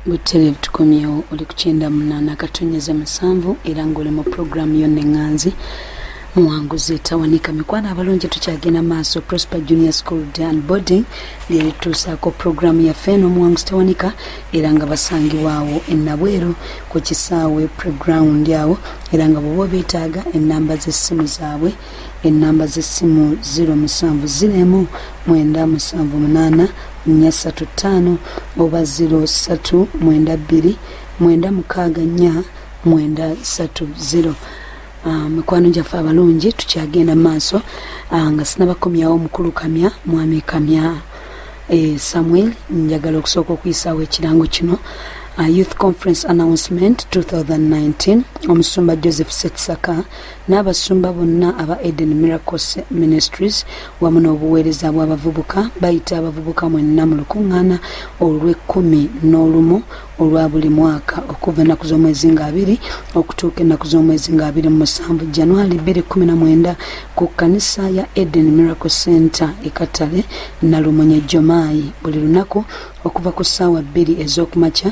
butterevu tukomyewo oli ku kyenda munaana akatonyeza musanvu era ng'oli mu pulogulaamu yo neŋŋanzi muwanguzi tawanika mikwano abalungi tukyagenda maaso prosper junior school dan boarding lyerituusaako pulogulaamu yaffe n'omuwanguzi tawanika era nga basangibwaawo enabweru ku kisaawe preground awo era nga bwoba obeetaaga ennamba z'essimu zaabwe ennamba z'essimu 0709789435 oba 0392964930 Ah, mikwano gyaffe abalungi tukyagenda maaso ah, nga sinabakomyawo omukulu kamya mwami kamya eh, samuel njagala okusooka okuyisawo ekirango kino ah, youth conference announcement 2019 omusumba joseph setsaka n'abasumba bonna aba eden miracles ministries wamu n'obuweereza bw'abavubuka bayita abavubuka mwenna mu lukuŋŋaana olw'ekkumi n'olumu olwa buli mwaka okuva ennaku z'omwezi nga abiri okutuuka ennaku z'omwezi nga abiri mu musanvu januari bbiri kumi na mwenda ku kkanisa ya eden miracle center ekatale nalumunye jomaayi buli lunaku okuva ku ssaawa bbiri ez'okumakya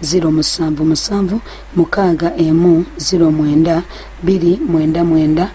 ziro musanvu musanvu mukaaga emu ziro mwenda biri mwenda mwenda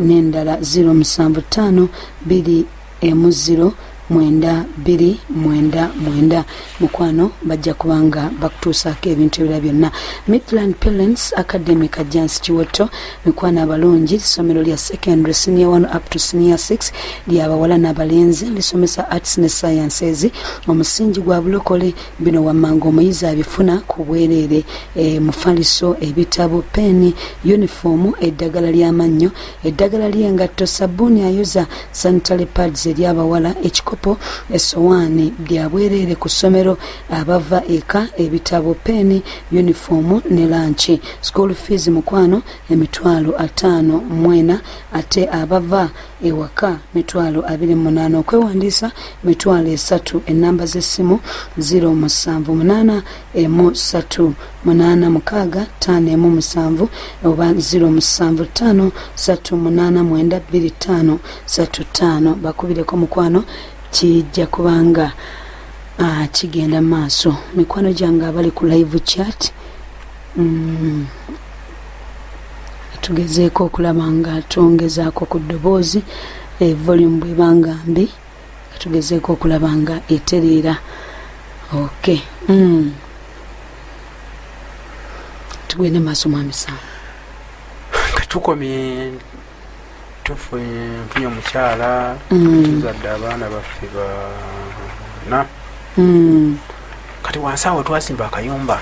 n'endala ziro musanvu ttaano biri emu ziro mwenda biri mwenda mwenda mukwano bajja kubanga bakutuusaako ebintu ebira byonna midland parents academy kajjansi kiwotto mikwano abalungi ssomero lya secondary senior one up to senior six lyabawala n'abalenzi lisomesa arts ne sciences omusingi gwa bulokole bino wammanga omuyizi abifuna ku bwereere e, mufaliso ebitabo peeni yunifoomu eddagala ly'amannyo eddagala ly'engatto sabbuuni ayoza sanitary pads eri abawala ekikopo essowaani bya bwereere ku ssomero abava eka ebitabo peeni yunifoomu ne lanki school fees mukwano emitwalo ataano mwena ate abava ewaka mitwalo abiri munaana okwewandiisa mitwalo esatu enamba z'essimu ziro musanvu munaana emu satu munaana mukaaga taano emu musanvu oba ziro musanvu taano satu munaana mwenda bbiri taano satu taano bakubireko mukwano kijja kubanga ah, kigenda maaso mikwano gyange abali ku live chat mm. tugezeeko okulaba nga twongezaako ku ddoboozi e volume bwebanga mbi tugezeeko okulaba nga etereera ok mm. tugende maaso mwamisango katukomye tufunye nfunye omukyala mm. tuzadde abaana baffe bana mm. kati wansi awo twasimba akayumba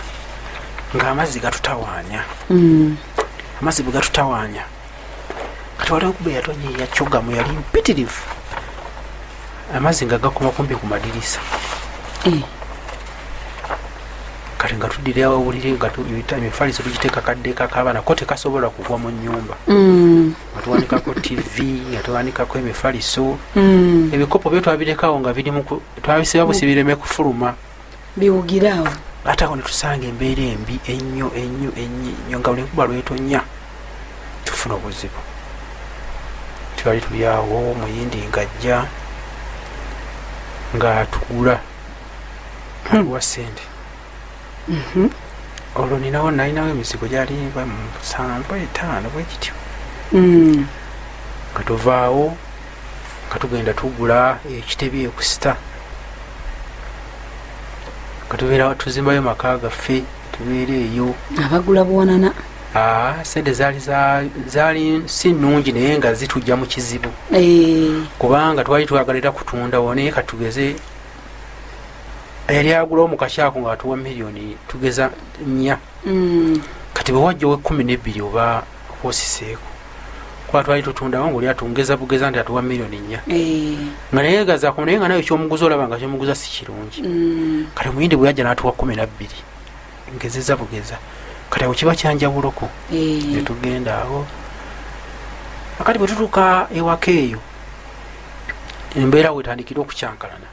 ng'amazzi gatutawaanya mm. amazzi bwe gatutawaanya kati waliwo kuba eyatonye yacogamu yali mpitirivu amazzi nga gakoma kumpi ku madirisa eh. kati nga tudire awawulire nga emifaliso tugiteeka kaddeekako abaana ko tekasobola kugwa mu nyumba mm. nga tuwanikako tv nga tuwanikako emifaliso mm. ebikopo byo twabirekawo nga twabisiba busi bireme kufuluma biwugirawo ate awo netusanga embeera embi ennyo ennyo ennyo nga buli kuba lwetonya tufuna obuzibu twali tuli awo muyindi ngajja ngaatugula aliwa sente mhm. olwo ninawo nalinawo emizigo gyali musanvu etaano bwekityo mm. nga tuvaawo nga tugenda tugula ekitebi ekusita nga tubeera tuzimbayo maka gaffe tubeera eyo abagula buwanana Ah, sente zaali zaali si nnungi naye nga zitujja mu kizibu eh. kubanga twali twagala era kutundawo naye katugeze eyali agulawo mukakyako nga atuwa miliyoni tugeza nya mm. kati bwewajja owekumi nebbiri oba osiseeko kuba twali tutundawo ngaoli atungeza bugeza nti atuwa miliyoni nya eh. nga naye gazako naye nga nayo kyomuguza olaba nga kyomuguza si kirungi mm. kati omuyindi bweyajja natuwa kumi nabbiri ngezeza bugeza kati awo kiba kyanjawuloko eh. netugenda awo akati bwetutuuka ewaka eyo embeera wetandikire okukyankalana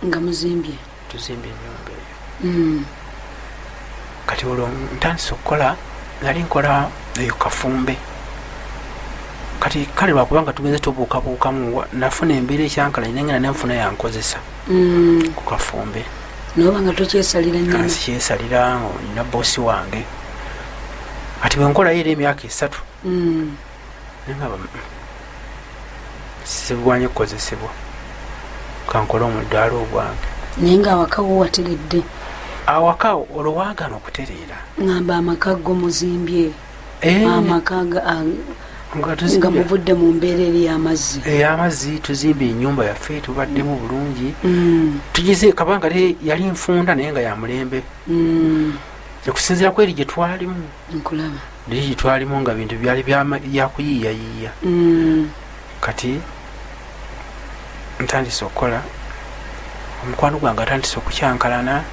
nga muzimbye tuzimbye enyumba eyo hmm. kati olwo ntandise okukola nali nkola eyo kafumbe kati kale lwakubanga tugenze tubuukabuukamu nafuna embeera ekyankalanye nengenda nenfuna yankozesa mm. ku kafumbe noba nga tokyesalira nyama sikyesalira nina bosi wange ati bwenkolayo era emyaka esatu mm. nengaba mm, sigwanye kukozesebwa kankole omudaala ogwange naye nga awakawo wateredde awaka olowagana okutereera ngamba amaka go muzimbye eh. amaka nga muvudde mu mbeera eri yamazzi eyamazzi eh, tuzimba enyumba yaffe tubaddemu mm. bulungi mm. tugize kabanga yali nfunda naye nga yamulembe mm. okusinzira kweri gyetwalimu gyetwalimu nga bintu byali byakuyiiyayiiya kati ntandise okukola omukwano gwange atandise okukyankalana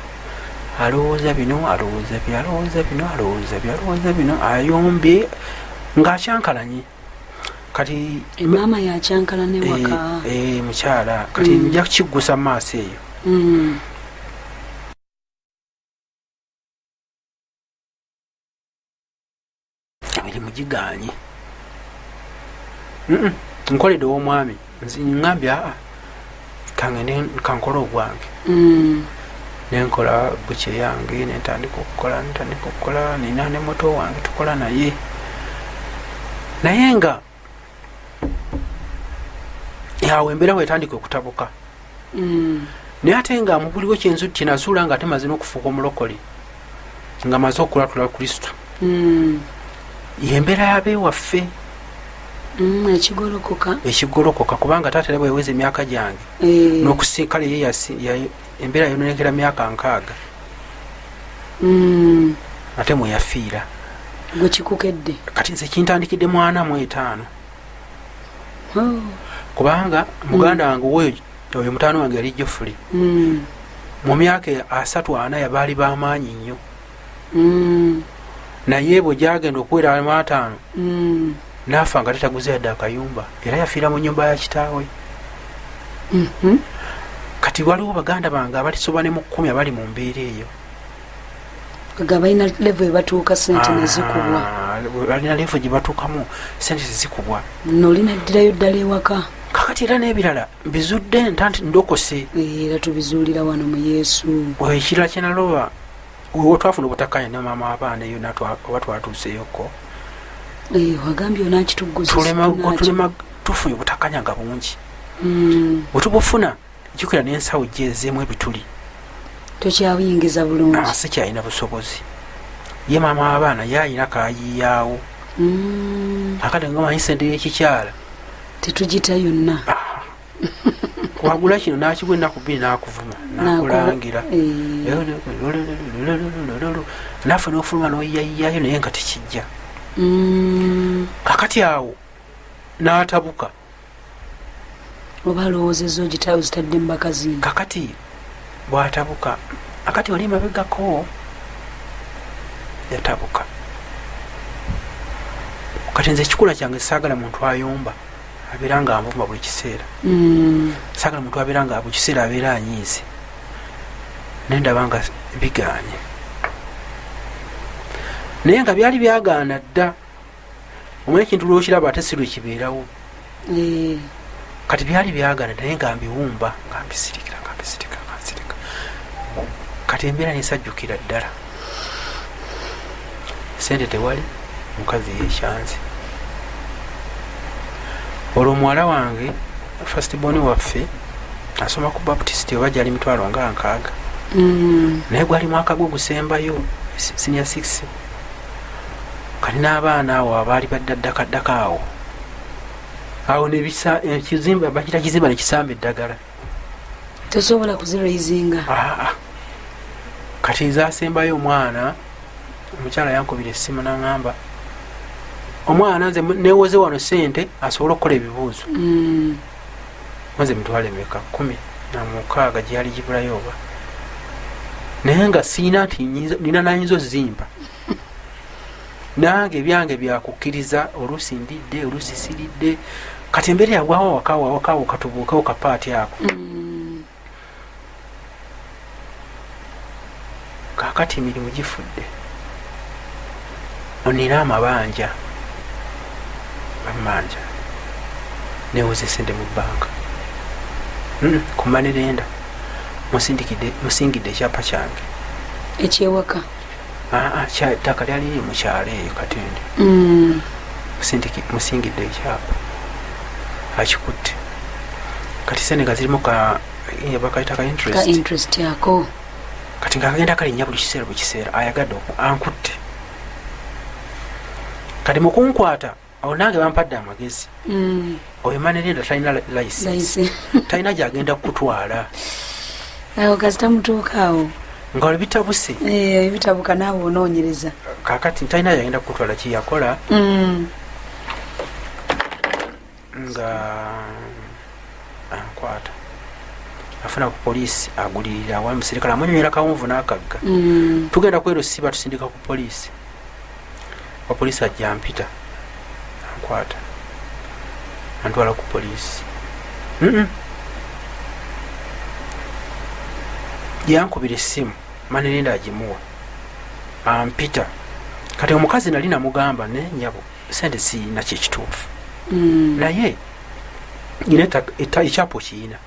alowooza bino alowooza bi alowooza bino alowooza bi alowooza bino ayombye ngaakyankalanye kati maama yakyankalana ewaka eh, eh, mukyala kati mm. nja kukiggusa mu maaso eyo mm. emirimu gigaanye nkolede owomwami ngambye aa kangende kankole ogwange mm. nenkola buce yange nentandika okukola nentandika okukola nina ne moto wange tukola naye naye nga awo embeera wetandika okutabuka mm. naye ate nga mubuliwo kyenzu kyenazuula nga ate maze nokufuuka omulokole nga maze okulatula kristo mm. yembeera yabewaffe mm, ekigolokoka kubanga taata era bweweza emyaka gyange eh. nokusinkala ye embeera yononekera myaka nkaaga mm. ate mweyafiira gwekikukedde kati nze kintandikidde mwana mu etaano oh. kubanga muganda mm. wange woyo oyo mutaano wange yali jofuli mm. mu myaka asatu ana yabaali bamaanyi nnyo mm. naye bwe gyagenda okuwera amaataano mm. naafa nga tetaguze yadde akayumba era yafiira mu nyumba ya kitaawe mm-hmm. kati waliwo baganda bange abatisoba ne mu kkumi abali mu mbeera eyo nga balina levo ebatuuka sente nezikubwa ah, balina levo gyebatuukamu sente zezikubwa nolina ddirayo ddala ewaka kakati era n'ebirala mbizudde ntanti ndokose era tubizuulira wano mu yesu ekirala kyenaloba olwo twafuna obutakanya ne maama wabaana eyo oba twatuuseyokko otulema tufunye obutakanya nga bungi hmm. wetubufuna jukira nensawo gyezemu ebituli tokyabuyingiza bulungi ah, sikyalina busobozi ye maama wabaana yayina kayiyawo hmm. akati ngamanyi sente yekikyala tetugita yonna ah. wagula kino nakigwa enaku bbiri nakuvuma nakulangira naffe nofuluma noyayayo naye nga tekijja mm. kakati awo natabuka oba alowoozezo zitadde mubakazi kakati bwatabuka akati wali mabegako yatabuka kati nze ekikula kyange saagala muntu ayomba abeera nga avuma buli kiseera mm. sagala muntu abeera nga buli kiseera abeera anyiize naye ndaba nga bigaanye naye nga byali byagaana dda omanye ekintu lwokiraba ate si lwekibeerawo eh. kati byali byagaana naye nga mbiwumba nga mbisirikira nga mbisirika nga nsirika kati embeera nesajjukira ddala sente tewali mukazi yekyanze olwo muwala wange fastbon waffe asoma ku baptist oba gyali mitwalo nga nkaaga mm. naye gwali mwaka gwe gusembayo sinia six kati n'abaana awo abaali baddaddakaddaka awo awo nekizimba bakita kizimba nekisamba eddagala tosobola kuziraizinga ah, ah. kati ezasembayo omwana omukyala yankubira essimu naŋamba omwana nze newoze wano sente asobole okukola ebibuuzo mm. nze mitwale meka kumi namukaaga gyeyali gibulayo oba naye nga siina nti nina nayinza ozimba nange byange byakukkiriza oluusi ndidde oluusi siridde kati embeera yagwawo wakawo awakawo katubuukewo kapaati ako mm. kakati emirimu gifudde onina amabanja amanja newoza esente mu banka hmm, kumanirenda musingidde ekyapa kyange ekyewaka ettaka ah, ah, lyali liri mukyalo eyo katende mm. musingidde ekyapa akikutte kati sente nga zirimu bakayita ka interest ako kati nga akagenda kalinnya buli kiseera buli kiseera ayagadde ankutte kati mukunkwata awo nange bampadde amagezi mm. oyo manerenda talina license talina gyagenda kukutwala awo kasita mutuukaawo nga webitabuse eh, ebitabuka naawe onoonyereza kakati talina yagenda kukutwala kyeyakola mm. nga ankwata afuna ku poliisi agulirira wa muserikale amunyonyera kawunvu n'akagga mm. tugenda kwerusiba tusindika ku poliisi wapolisi ajja mpita ankwata antwala ku polisi yankubira essimu manerenda agimuwa ampita kati omukazi nali namugamba ne nyabo sente siyina kyekituufu mm. naye nyina ekyapa okiyina e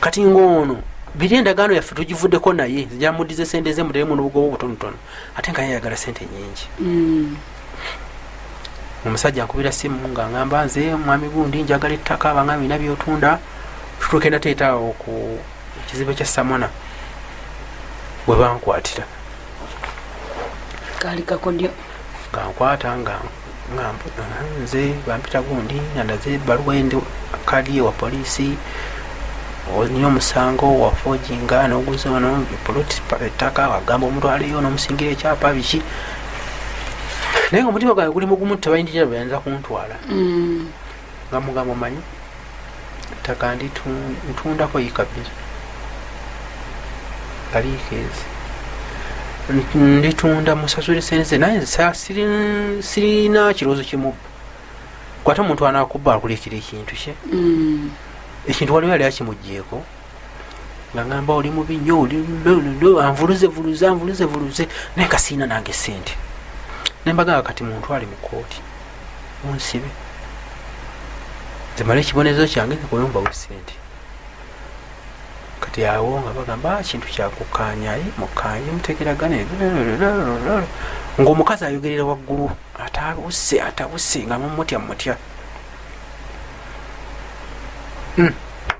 kati ngaono biri endagaano yaffe tugivuddeko naye zijamudize sente ze muteremu nobugoba obutonotono ate nga yayagala sente nyingi mm. omusajja nkubira simu nga ngamba nze mwami gundi njagala ettaka abanga bina byotunda tutukenda teetaawo ku ekizibu ekya samona bwe bankwatira kankwata nga nga nze bampita gundi nandaze ebaluwa endi kadi ewa poliisi olina omusango wafojinga noguza ono poloti ettaka wagamba omuntu aliyo nomusingira ekyapa biki naye nga omutima gwange guli mugumu tebayinjira beyanza kuntwala mm. nga mugamba omanyi ttaka ndi ntundako yika bbiri aliikeezi nditunda musasule sente ze naye sirina kirowoozo kimubba kwata omuntu anakuba akulekera ekintu kye mm. ekintu waliwo yali akimugjeeko ngangamba oli mubi nyo anvuluzevuluze anvuluzevuluze naye kasiina nange sente nembagamba kati muntu ali mukooti munsibe zemala ekibonerezo kyange nekuwemba wesente kati awo nga bagamba ah, kintu kyakukanyaye mukanye mutegeragana ngaomukazi ayogerera waggulu atabuse atabuse nga mumutya mutya hmm.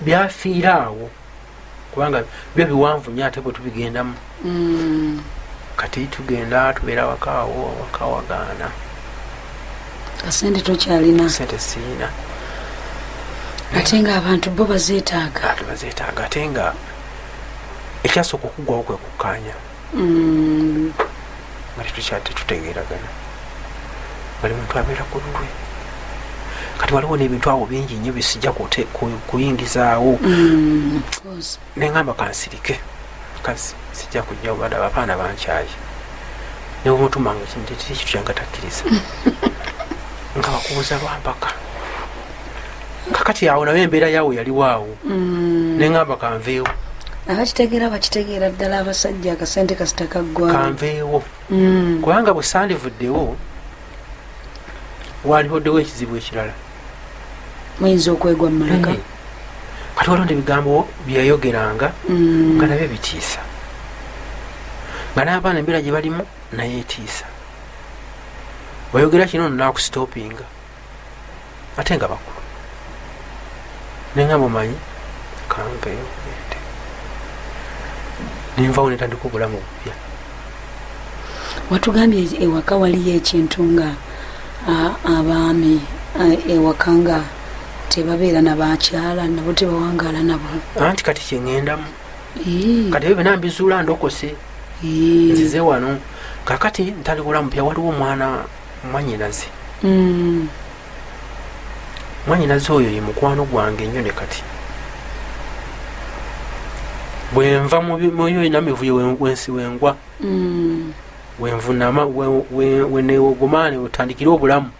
byafiira awo kubanga byo biwanvu nyo ate bwetubigendamu mm. kati tugenda tubeera wakaawo wakawagaana kasente tokyalina sente siina ate nga abantu bo bazetaaga bazetaaga ate nga ekyasooka okugwawo kwekukkaanya mm. bali tukyate tutegeragana bali muntu abeera ku lulwe kati waliwo nebintu awo bingi nyo bisijja kuyingizaawo mm, nengamba kansirike kazi sijja kujja obada abapaana bankyaye newomutumanga kintu ekiri ekitu kyangatakkiriza nga bakubuza lwampaka kakati awo nayo embeera yaawo yaliwaawo mm. neŋamba kanveewo abakitegeera bakitegeera ddala abasajja akasente kasita kaggwa kanveewo mm. kubanga bwe sandivuddewo walihoddewo ekizibu ekirala muyinza okwegwa mumulaka mm. kati walonda ebigambo byeyayogeranga nga nabyo bitiisa nga n'abaana embeera gye balimu naye etiisa wayogera kino no nakusitopinga ate nga bakulu nenga mumanyi kanveyo ente nenvawo netandika obulamu obupya watugambye ewaka waliyo ekintu nga abaami ewaka nga tebabeera nabakyala nabo tebawangala nabo anti kati kyeŋendamu kati ebyo byona mbizuula ndokose nzize wano kakati ntaliwula mupya waliwo omwana mwanyinaze mm. mwanyinaze oyo ye mukwano gwange nnyo ne kati bwenva muyo ina mivuyo wensi wengwa mm. wenvunama wenewogomaane otandikire obulamu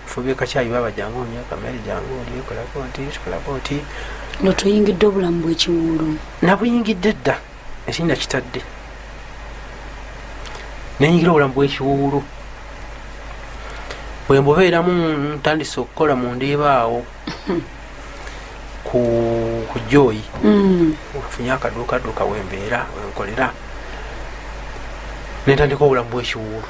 fube kakyayi baba jangu myaka mere jangu olyekolako nti kikolako nti notuyingidde obulamu bwekiwuulu nabuyingidde dda ekinnya kitadde nenyingira obulamu bwekiwuulu bwe mbubeeramu ntandise okukola mu ndiiba awo ku joyi mm. nfunye akaduukaduuka wembeera wenkolera nentandika obulamu bwekiwuulu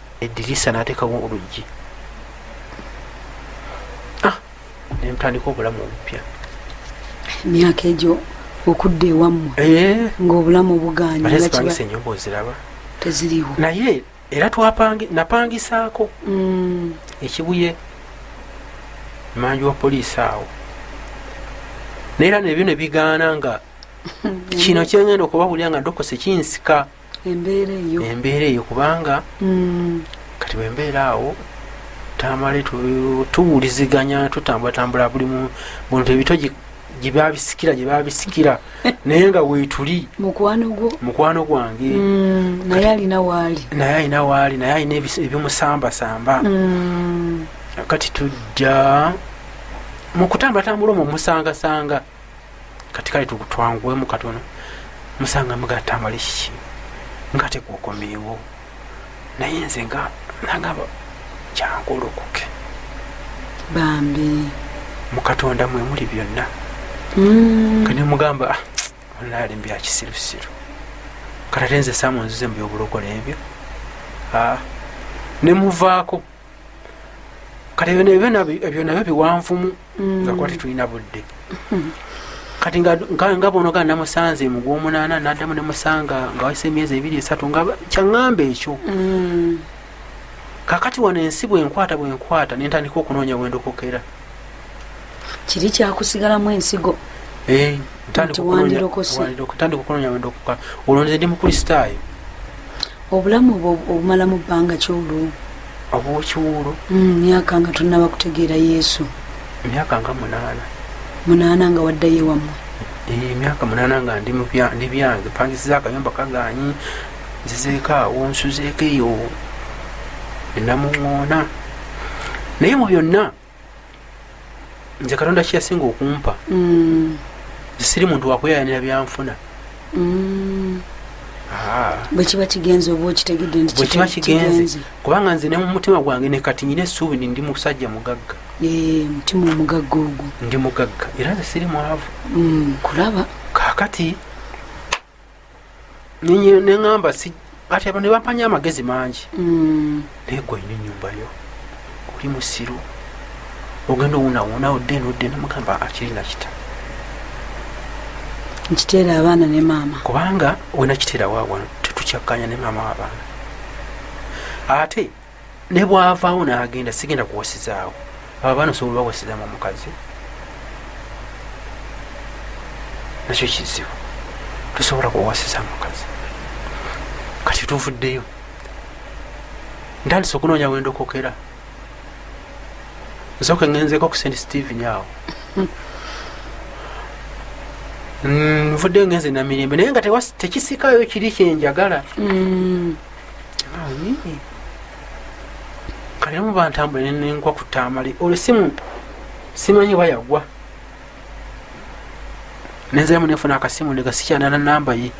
edirisa natekawo oluggi ah, nemutandika obulamu obupya emyaka egyo okudda ewammwe eh. ngaobulamu buganyapangisa enyumba oziraba teziriwo naye era napangisaako mm. ekibuye manju wa poliisi awo naye era nebyo nebigaana nga kino kyengenda okubabulira nga dokose kinsika embeera eyo embeera eyo kubanga mm. kati bwembeera awo tamale tuwuliziganya tutambulatambula buli muntu ebito gyebabisikira gyebabisikira naye nga wetuli mukwano gwange mm, naye alina waali naye alina waali naye alina ebimusambasamba mm. kati tujja mukutambulatambula omwo musangasanga kati kale tukutwanguwemu katono musanga mugatta mali kiki nga tekuokomeewo naye nze nga nangamba kyangolokoke bambi mukatonda mwe muli byonna mm. kane mugamba ah, onaali mbya kisirusiru katatenze samu nzize mu byobulokole ebyo ah, nemuvaako kati ebyo nabyo biwanvumu mm. nga kuba tetulina budde mm-hmm. kati nga bonoga namusanze mu gwomunaana naddamu nemusanga nga wayise emyezi ebiri esatu nga kyaŋŋamba ekyo mm. kakati wano ensi bwenkwata bwenkwata nentandika okunoonya wendokokera kiri kyakusigalamu ensigo eh, ntandika okunoonya wendokoka olwo nze ndi mukristaayo obulamu obwo obumalamu bbanga ki olwo obwokiwuulu mm, myaka nga tonnaba kutegeera yesu emyaka nga munaana munaana nga waddayo ewammwe emyaka eh, munaana nga ndi byange pangisiza akayumba kaganyi nzizeeko awo nsuzeeko eyo enamuŋoona naye mu byonna nze katonda kyeyasinga okumpa mm. siri muntu wakuyayanira byanfuna mm. ah. bwekiba kigenze oba okitegedde nti bwekiba kigenze kubanga nze ne mumutima gwange ne kati nyina esuubi ni ndi musajja mugagga eh, mutima omugagga ogwo ndi mugagga era nze siri mwavu mm, kulaba kakati neŋamba kati abo nebampanya amagezi mangi mm. naye gwe olina enyumba yo oli musiru ogenda owunawuna odde nodde nemugamba akiri nakita nkiteera abaana ne maama kubanga wenakiteera wawano tetukyakanya ne maama wabaana ate ne bwavaawo n'agenda sigenda kuwasizaawo abo abaana osobola bawasizamu omukazi nakyo kizibu tosobola kuwasiza mukazi kati tuvuddeyo ntandisa okunoonya wendokokera nsoka ngenzeko ku st steven awo mm, nvuddeyo ngenze namirembe naye nga tekisikayo kiri kyenjagala mm. kale mu bantambula nenenkwa ku tamale olwo simu simanyi oba yagwa nenziramu nenfuna akasimu ndeka sikyanana namba ye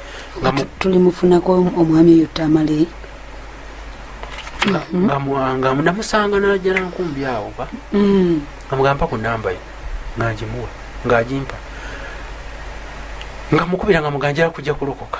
tulimufunako omwami eyo tamale nga namusanga najala nkumbi awo ba mm. nga mugamba ku namba ye ngagimuwa ngagimpa nga mukubira nga muganjala kujja kulokoka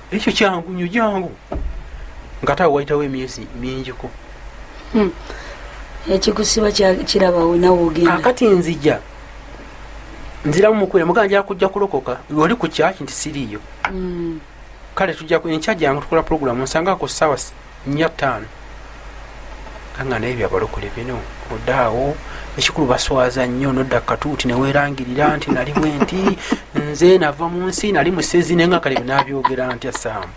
ekyo kyangu nyo jangu nga tawe wayitawo emyezi mingiko hmm. ekikusiba kirabawo nawe ogenda kakati nzija nziramu mukwira mugana njala kujja kulokoka oli ku kyaki nti siriiyo hmm. kale tujja enkya jangu tukola pulogulamu nsangako sawa nya ttaano kanga naye byabalokole bino odaawo ekikulu baswaza nnyo nodda katuuti newerangirira nti nali bwenti nze nava mu nsi nali musezi naye nga kale binabyogera ntya saamu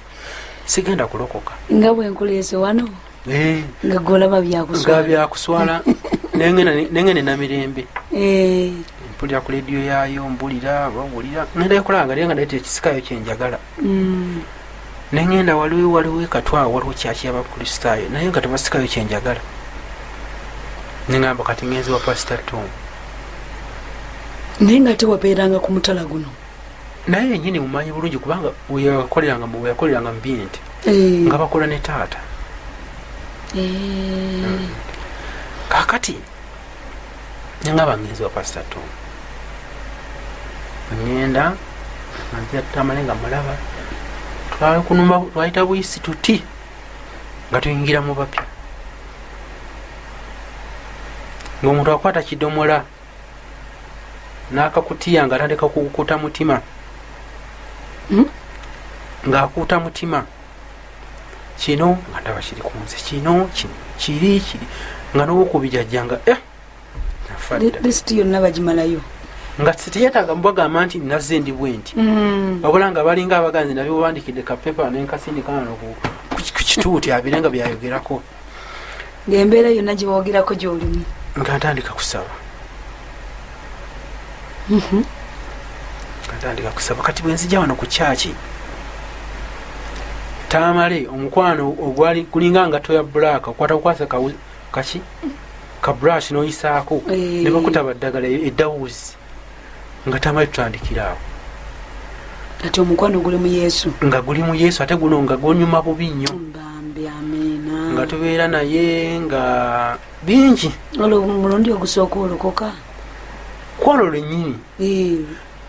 sigenda kulokoka nga bwenkuleese wano eh. nga golaba byakuswala byakuswala nenge nina mirembe eh. mpulira ku lediyo yaayo mbulira bawulira nendayo kulanga naye nga naye tekisikayo kyenjagala mm. nengenda waliwo waliwo ekatwa waliwo kyaki yabakristaayo naye nga tebasikayo kyenjagala nengamba kati ngenzi wa pasita tom naye nga tewabeeranga ku mutala guno naye yenyini mumanyi bulungi kubanga weyakoleranga weyakoleranga mubinti eh. nga bakola ne taata eh. hmm. kakati nanga bamizi bapasita to ngenda maziatamale nga mulaba twakunuma twayita buyisi tuti nga tuyingira mu bapya ngaomuntu akwata kidomola nakakutiya nga atandika kukuta mutima hmm? ngaakuuta mutima kino nga ndaba kiri ku nze kino kiri kiri nga nowokubijajja nga eh, lisiti yonna bagimalayo nga teyetaaga mubagamba nti nazze ndi bwe nti mm. wabula nga balinga abaganzi nabyo bubandikidde kapepa nenkasindikaano ku kituuti abire nga byayogerako ngaembeera yonna gyewogerako gyolimu nga ntandika kusaba mhm. ntandika kusaba kati bwenzija wano ku kyaki tamale omukwano ogwali kulinga nga toya bulaaka okwata kukwasa kaki ka brush noyisaako eh. nebakuta baddagala eddawuzi nga tamali tutandikira awo kati omukwano guli mu yesu nga guli mu yesu ate guno nga gwonyuma bubi nnyo nga tubeera naye nga bingi olwo mulundi ogusooka olokoka kwolwo lwenyini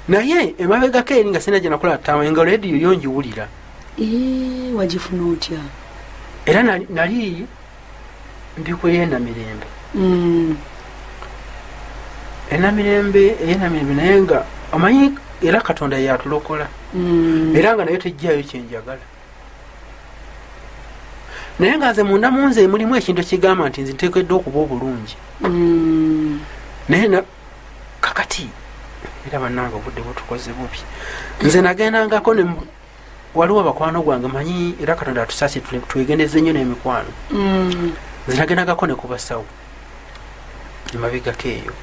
naye emabegako eri nga sina gyenakola tama nga lediyo yo njiwulira wagifuna otya era nali ndiko yena mirembe mm. ena mirembe ena mirembe naye nga omanyi era katonda yatulokola mm. era nga naye tejjayo kyenjagala naye nga nze munda munze mulimu ekintu ekigamba nti nze ntekedde okuba obulungi mm. naye kakati era banange obudde butukoze bubi nze nagendangako waliwo bakwano gwange manyi era katonda atusasi twegendeze nnyo n'emikwano mm. zinagendagako ne kubasawo emabegako eyo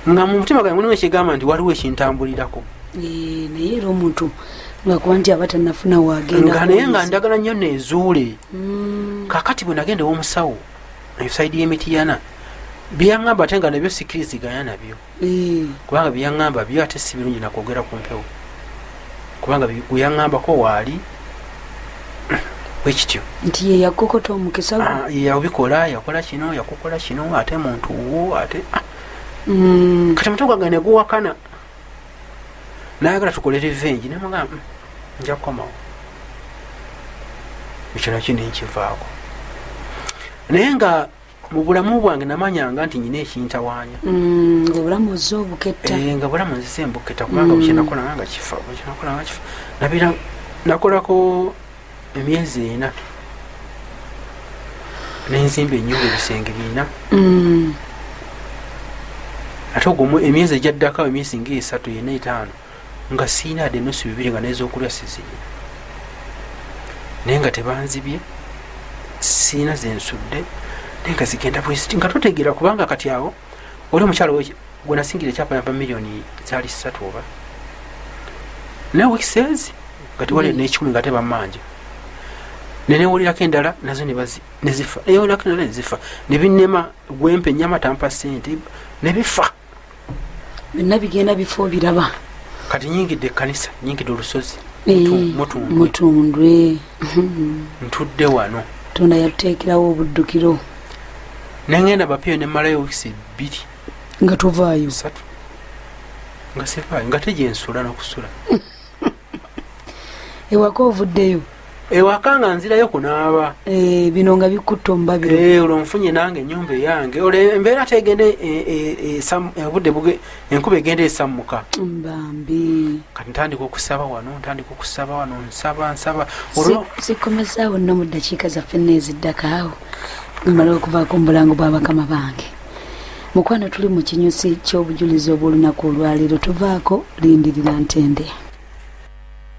nga mu mutima gwange mulimu ekigamba nti waliwo ekintambulirako naye era omuntu ngakuba nti aba tanafuna wagendaga naye nga ndagala nnyo nezuule mm. kakati bwe nagenda ewomusawo esaidi y'emitiyana byeyaŋamba ate nga nabyo sikiriziganya nabyo kubanga byeyaŋamba byo ate si birungi nakwogera ku mpewo kubanga weyaŋambako waali bwekityo nti yeyakukota omukisa ah, yabikola yakola kino yakukola kino ate muntu wo ate ah. mm. kati mutu gwange neguwakana nayagala tukole revenge nemugamba mm, nja kukomawo ekyo nakyo nenkivaako naye nga mu bulamu bwange namanyanga nti nyina ekintawaanya mm, ngaobulamu oze obuketta eh, nga bulamu nzize embuketta kubanga mm. bukyenakolanga nga kifa bukyenakolanga kifa nabira nakolako emyezi ena nenzimba enyumba ebisenge bina mm. ate ogwo emyezi egyaddako emyezi ngaesatu yena etaano nga siina ade enusu bibiri nga nezokulya sizirina naye nga tebanzibye siina zensudde naye nga zigenda bweziti nga totegeera kubanga kati awo oli omukyalo gwenasingira ekyapa yava miliyoni zali satu oba naye wikisezi nga tewali mm. nekikumi nga tebamanja nenewulirako endala nazo nezifa newulirako endala nezifa nebinema gwempa enyama tampa sente nebifa byonna bigenda bifo biraba kati nyingidde ekkanisa nyingidde olusozi eh, mutundwe ntudde wano tonda yatuteekerawo obuddukiro nengenda bapiyo nemalayo wiisi bbiri nga tovaayo satu nga sivaayo nga tegyensula nokusula ewaka ovuddeyo ewaka nga nzirayo kunaaba eh, bino nga bikutta omubabiro eh, olwo nfunye nange enyumba eyange olwo embeera tegende eh, obudde enkuba egenda esammuka bambi kati ntandika okusaba wano ntandika okusaba wano nsaba nsaba sikomezaawo nno mu ddakiika zaffe neeziddakaawo mumala okuvaako mu bulango bwabakama bange mukwano tuli mu kinyusi ky'obujulizi obw'olunaku olwaleero tuvaako lindirira ntende